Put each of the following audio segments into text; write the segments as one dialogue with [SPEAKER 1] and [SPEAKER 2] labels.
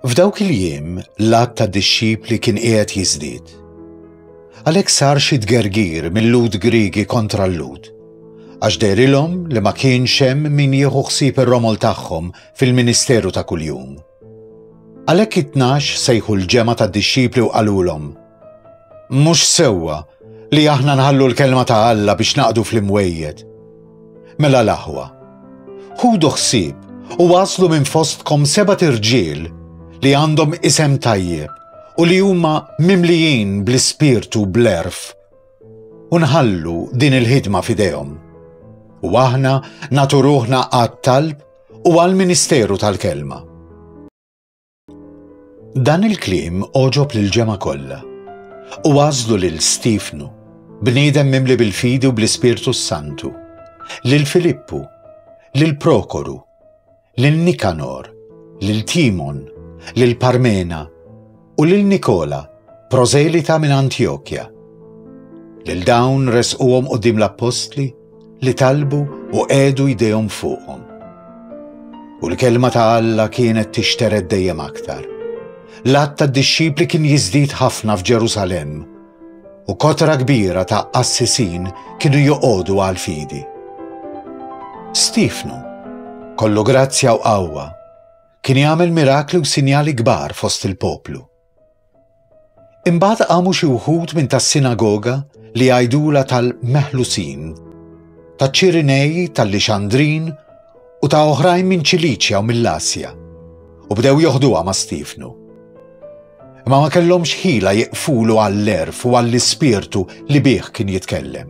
[SPEAKER 1] F'dawk il-jiem l-għadd ta' dixxipli kien qiegħed jiżdied. Għalhekk sar xi tgergir mill-Lhud Griegi kontra l-Lhud, għax derilhom li ma kienx hemm min jieħu ħsieb ir-romol tagħhom fil-ministeru ta' kuljum. Għalhekk it-tnax sejħu l-ġemgħa tad-dixxipli u qalulhom, Mhux sewwa li aħna nħallu l-kelma ta' Alla biex naqdu fl-imwejjed. Mela l-aħwa. Ħudu ħsieb u waslu minn fostkom seba' irġiel li għandhom isem tajjeb u li huma mimlijin bl-ispirtu bl-erf u nħallu din il-ħidma fidejhom. U aħna naturuħna għat-talb u għal-ministeru tal-kelma. Dan il-kliem oġob lil ġemgħa kollha u għażlu lil Stiefnu, bniedem mimli bil-fidi u bl-Ispirtu s-Santu, lil Filippu, lil Prokoru, lil Nikanor, lil Timon, lil Parmena u lil Nikola, prożelita minn Antjokja. Lil dawn resquhom quddiem l-appostli li talbu u qegħdu jdejhom fuqhom. U l-kelma ta' Alla kienet tixtered dejjem aktar. L-għadd tad-dixxipli kien jiżdied ħafna f'Ġerusalemm u kotra kbira ta' qassisin kienu joqogħdu għal fidi. Stifnu, kollu grazzja u qawwa, kien jagħmel mirakli u sinjali kbar fost il-poplu. Imbagħad qamu xi wħud minn tas-sinagoga li għajdula tal-Meħlusin, ta' Ċirinej, tal-Lixandrin u ta' oħrajn minn Ċiliċja u mill-Asja, u bdew joħduha ma' Stifnu. Ma ma kellhomx ħila jiqfulu għall-erf u għall-ispirtu li bih kien jitkellem.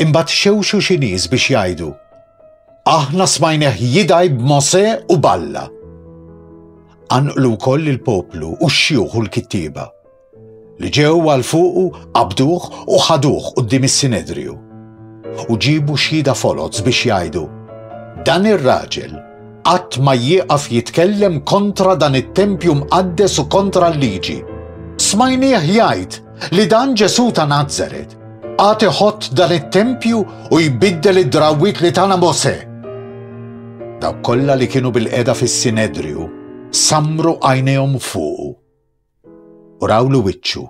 [SPEAKER 1] Imbagħad xewxu xi nies biex jgħidu, Aħna smajneħ jidaj b'Mose u balla. Anqlu wkoll il-poplu u x-xjuħ u l-kittieba li ġew għal fuqu qabduh u ħaduh qudiem is-Sinedriju. U ġibu xhieda foloz biex jgħidu, Dan ir-raġel qatt ma jieqaf jitkellem kontra dan it-tempju mqaddes u kontra l-liġi. Smajnieh jgħid li dan Ġesù ta' Nazaret Għad iħott dan it-tempju u jbiddel id-drawwiet li tana Mose. Dawk kollha li kienu bil-qeda fis-Sinedriju samru għajnejhom fuqu u rawlu wiċċu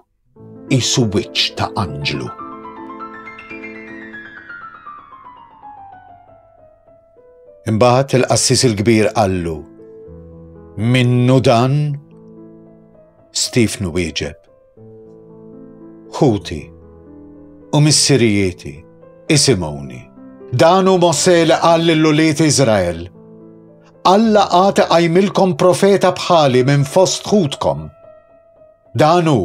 [SPEAKER 1] qisu wiċċ ta' anġlu. Imbagħad il-qassis il-kbir qallu, minnu dan? Stefnu wieġeb, Ħuti u missirijieti, isimgħuni. Dan hu Mosè li qal lil ulied Iżrael. Alla għad iqajmilkom profeta bħali minn fost ħutkom. Dan hu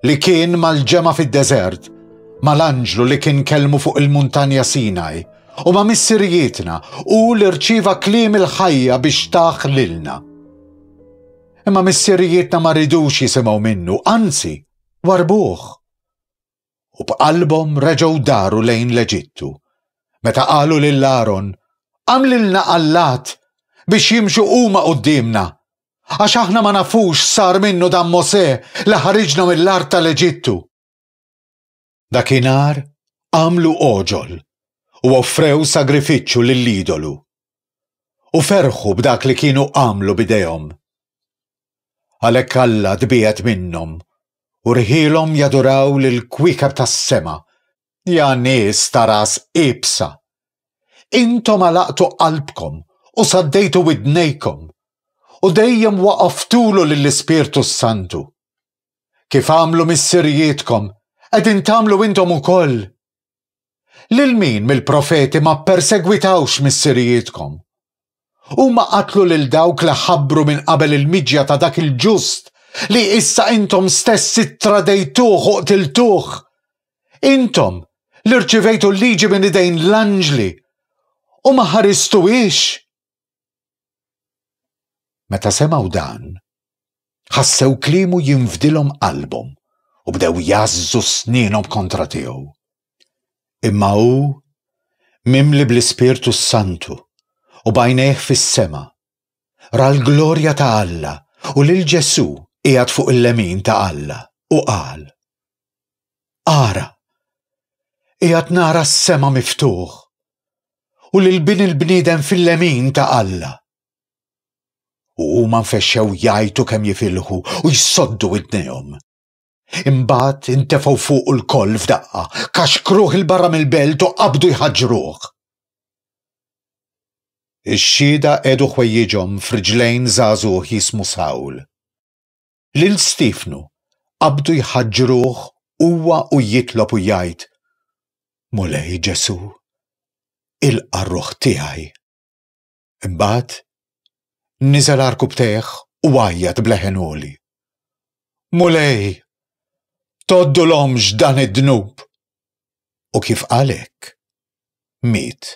[SPEAKER 1] li kien mal-ġemgħa fid-deżert, mal-anġlu li kien kelmu fuq il-muntanja Sinaj, u ma' missirijietna u li rċieva kliem il-ħajja biex taħ lilna. Imma missirijietna ma ridux jisimgħu minnu, anzi, warbuh. U b'qalbhom reġgħu daru lejn l-Eġittu. Meta qalu lil Aaron, Għamlilna allat biex jimxu huma quddiemna, għax aħna ma nafux sar minnu dan Mosè li ħariġna mill-art tal-Eġittu. Dakinhar għamlu oġol u offrew sagrifiċċju lill-idolu u ferħu b'dak li kienu għamlu b'idejhom. Għalhekk Alla tbiegħed minnhom u rħilhom jaduraw lil kwiekeb tas-sema. Ja nies ta' ras ibsa! Intom għalaqtu qalbkom u saddejtu widnejkom u dejjem waqaftulu lill-Ispirtu s-Santu. Kif għamlu missirijietkom, qegħdin tagħmlu intom ukoll. Lil min mill-profeti ma ppersegwitawx missirijietkom? Huma qatlu lil dawk li ħabbru minn qabel il-miġja ta' dak il-ġust li issa intom stess ittradejtuh u qtiltuh. Intom li rċivejtu l-liġi minn idejn l-anġli u ma ħaristuhiex. Meta semgħu dan, ħassew kliemu jinfdilhom qalbhom u bdew jazzu sninhom kontra tiegħu. Imma hu mimli bl-Ispirtu Santu u bajnejh fis-sema, ra l-glorja ta' Alla u lil Ġesù qiegħed fuq il-lemin ta' Alla u qal, Ara! Qiegħed nara s-sema miftuħ u lil Bin il-bniedem fil-lemin ta' Alla. U huma nfexxew jgħajtu kemm jifilħu u jsoddu widnejhom. Imbagħad intefgħu fuq il-koll f'daqqa, kaxkruh il-barra mill-belt u qabdu jħaġġruh. Ix-xhieda qegħdu ħwejjiġhom f'riġlejn żagħżugħ jismu Sawl. lil Stiefnu qabdu jħaġġruh huwa u jitlob u jgħid, Mulej Ġesù, ilqa' r-ruħ tiegħi. Imbagħad, niżel għar kubtejh u għajjat b'leħen għoli. Mulej, toddulhomx dan id-dnub! U kif għalek, miet.